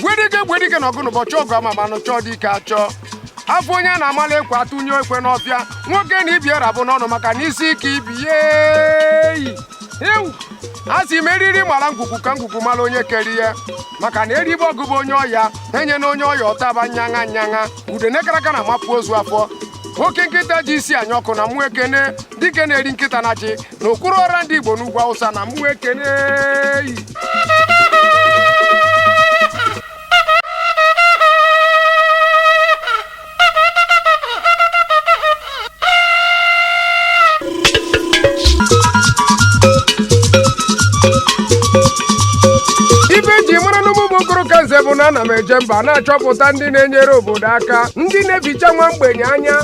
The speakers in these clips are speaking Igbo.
gwedike gwedike na ọgụ n'ụbọchị ọgụ ama manụ chọọ dike achọọ afụ onye a na-amala ekwe atụnye ekwe n'ọfịa nwoke na ibi era bụ n'ọnụ maka na isi ike ibi yeyi ewu a sị m eriri mara ngwugwu ka ngwugwu mara onye kere ya maka na eribe ọgwụ bụ onye ọya enye na onye ọya ọtaba nyaṅa nyaṅa udene kara aka na-amapụ ozu afọ oke nkịta ji isi anya ọkụ na mụ ekene dike na-eri nkịta na ji n'okwuru ọra ndị Igbo n'ugwu Awụsa na mụ ekene ife eji mara na mụ bụ okoro ka nze bụ na ana m eje mba na-achọpụta ndị na-enyere obodo aka ndị na-eficha nwa mgbenye anya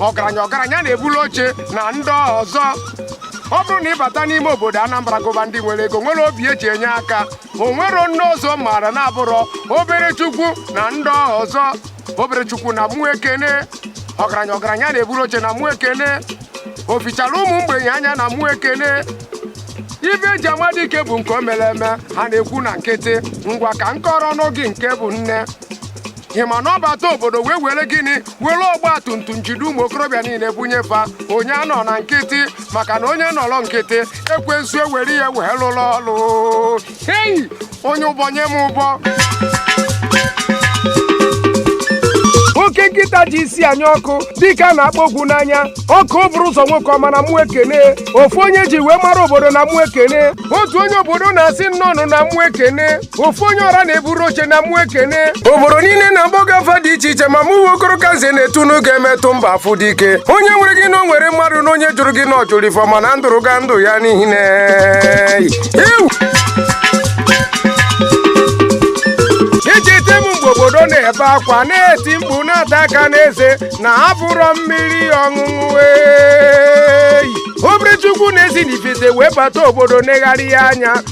ọgaranya ọgaranya na-ebulu oche na ndị ọzọ ọ bụrụ na ị bata n'ime obodo Anambra gụba ndị nwere ego nwere obi eji enye aka o nwerọ onye ọzọ m maara na-abụrọ obere chukwu na ndị ọzọ obere chukwu na mụ ekene ọgaranya ọgaranya na-eburu oche na mụ ekene o fichara ụmụ mgbenye anya na mụ ekene ife eji ama dike bụ nke o mere eme ha na-ekwu na nkịtị ngwa ka m kọọrọ nụ gị nke bụ nne ị ma na ọ bata obodo wee were gịnị were ọgba tum tum jide ụmụ okorobịa niile bunye fa onye anọna nkịtị maka na onye nọrọ nkịtị ekwensu ewere ya wee lụrụ ọlụ hei onye ụbọ nye m ụbọ oke nkịta ji isi anya ọkụ dike a na-akpa ogwu n'anya ọkaa o buru ụzọ nwoke ọma na mụ ekene ofu onye eji wee mara obodo na mụ ekene otu onye obodo na-asị nnọọ nụ na mụ ekene ofu onye ọra na-eburu oche na mụ ekene obodo niile na-aba gị afa dị iche iche ma mụ nwa okoro ka nze na-etu nụ gị emetụ mba afụ dike onye nwere gị na o nwere mmadụ na onye jụrụ gị na ọ jụrụ ife ọma na ndụrụ ga ndụ ya n'ihi na echete m mgbe obodo na-ebe akwa na-eti mkpu na-ata aka n'eze na afụrọ mmiri ọṅụṅụ eyi obere chukwu na-esi n'ifite wee bata obodo negharịa anya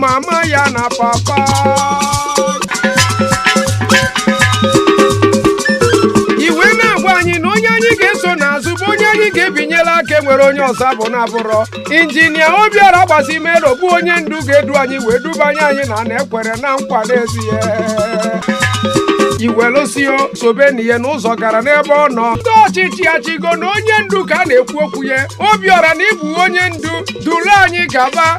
mama ya na papa ya wee na-agwa anyị na onye anyị ga-eso n'azụ bụ onye anyị ga-ebinyere aka enwerọ onye ọzọ ọ bụ na-abụrọ injinia Obiọra Agbasimelo bụ onye ndu ga-edu anyị wee dubanye anyị n'ana ekwere na nkwa n'ezie iwelụsio sobe na ihe n'ụzọ gara n'ebe ọ nọ ndị ọchịchị achịgo na onye ndu ka a na-ekwu okwu ya Obiọra na ị bụ onye ndu duru anyị gaba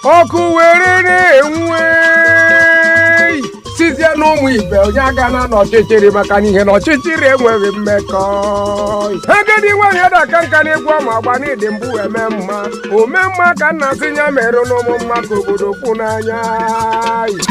ọkụ were na-enwe sịzie na ụmụ ibe onye agana n'ọchịchịrị maka na ihe na ọchịchịrị enweghị mmekọ agadi nwaanyị ada aka nka n'egwu ọ ma agba na ị dị mbụ eme mma ome mma ka m na-asị ya meerenụ mụ mma ka obodo kwụ n'anya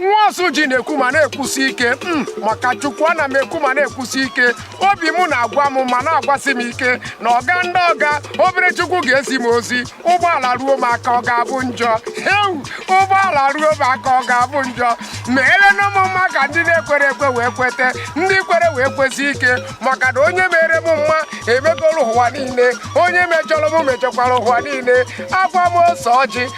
nwa ọsụji na-ekwu ma na-ekwusi ike mm, maka chukwu ana m ekwu ma na-ekwusi ike obi m na-agwa m ma na-agwasị m ike na ọga ndị ọga obere chukwu ga-ezi m ozi ụgbọala ruo m aka ọ ga-abụ njọ heu ụgbọala ruo m aka ọ ga-abụ njọ meelenụ mụ mma ka ndị na-ekwere ekwe wee kwete ndị kwere wee kwesi ike maka na onye mere m mma emegolu ụwa niile onye mejọrọ m mejọkwara ụwa niile agwa m ose ọjị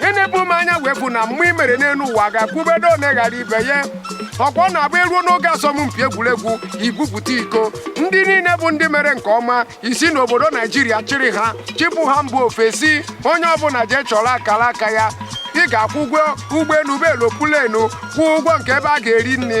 ihe na-ebu m anya wee bụ na mma i mere n'elu ụwa a ga-ekwubedu ole ghara ibe ya ọkwa ọ na-abụ eruo n'oge asọmpi egwuregwu ibupụta iko ndị niile bụ ndị mere nke ọma i si n'obodo naijiria chịrị ha chịpụ ha mba ofesi onye ọbụla jee chọrọ akara aka ya ị ga-akwụ ụgwọ ụgbọelu bụ aeroplane kwụọ ụgwọ nke ebe a ga-eri nri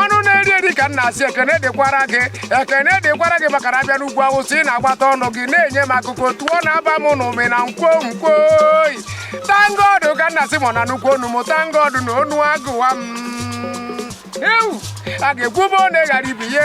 ọnụ na-eri eri ka m na-asị ekene dịkwara gị ekene dịkwara gị maka na a bịa n'ugwu awụsa ị na-agbata ọnụ gị na-enye m akụkọ ụtọ na-aba m n'ụmị na nkwonkwo thankgod ka m na-asị mọ na nnukwu onu m thankgod na onu agụwa m ewu a ga-ekwube one ghara ibe ye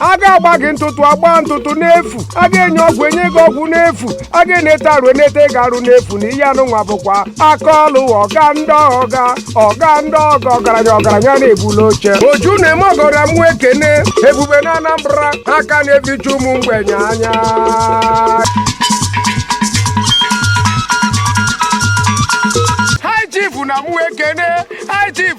a ga-agba gị ntụtụ agbaa ntụtụ n'efu a ga-enye ọgwụ enye gị ọgwụ n'efu a ga-enete arụ enete gị arụ n'efu na ihe anụnwa bụkwa aka ọlụ ọga ndị ọga ọga ndị ọga ọgaranya ọgaranya na-ebuli oche oju na-eme ọgọ na mụ ekene ebube na anambra aka na-ebicha ụmụ mgbenye anya High chief na mụ ekene high chief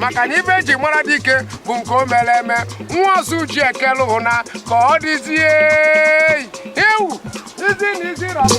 maka na ife eji mara dike bụ nke o mere eme nwa ọsụji ekele ụnụ na ka ọ dịzie ewu izi na izi rabụ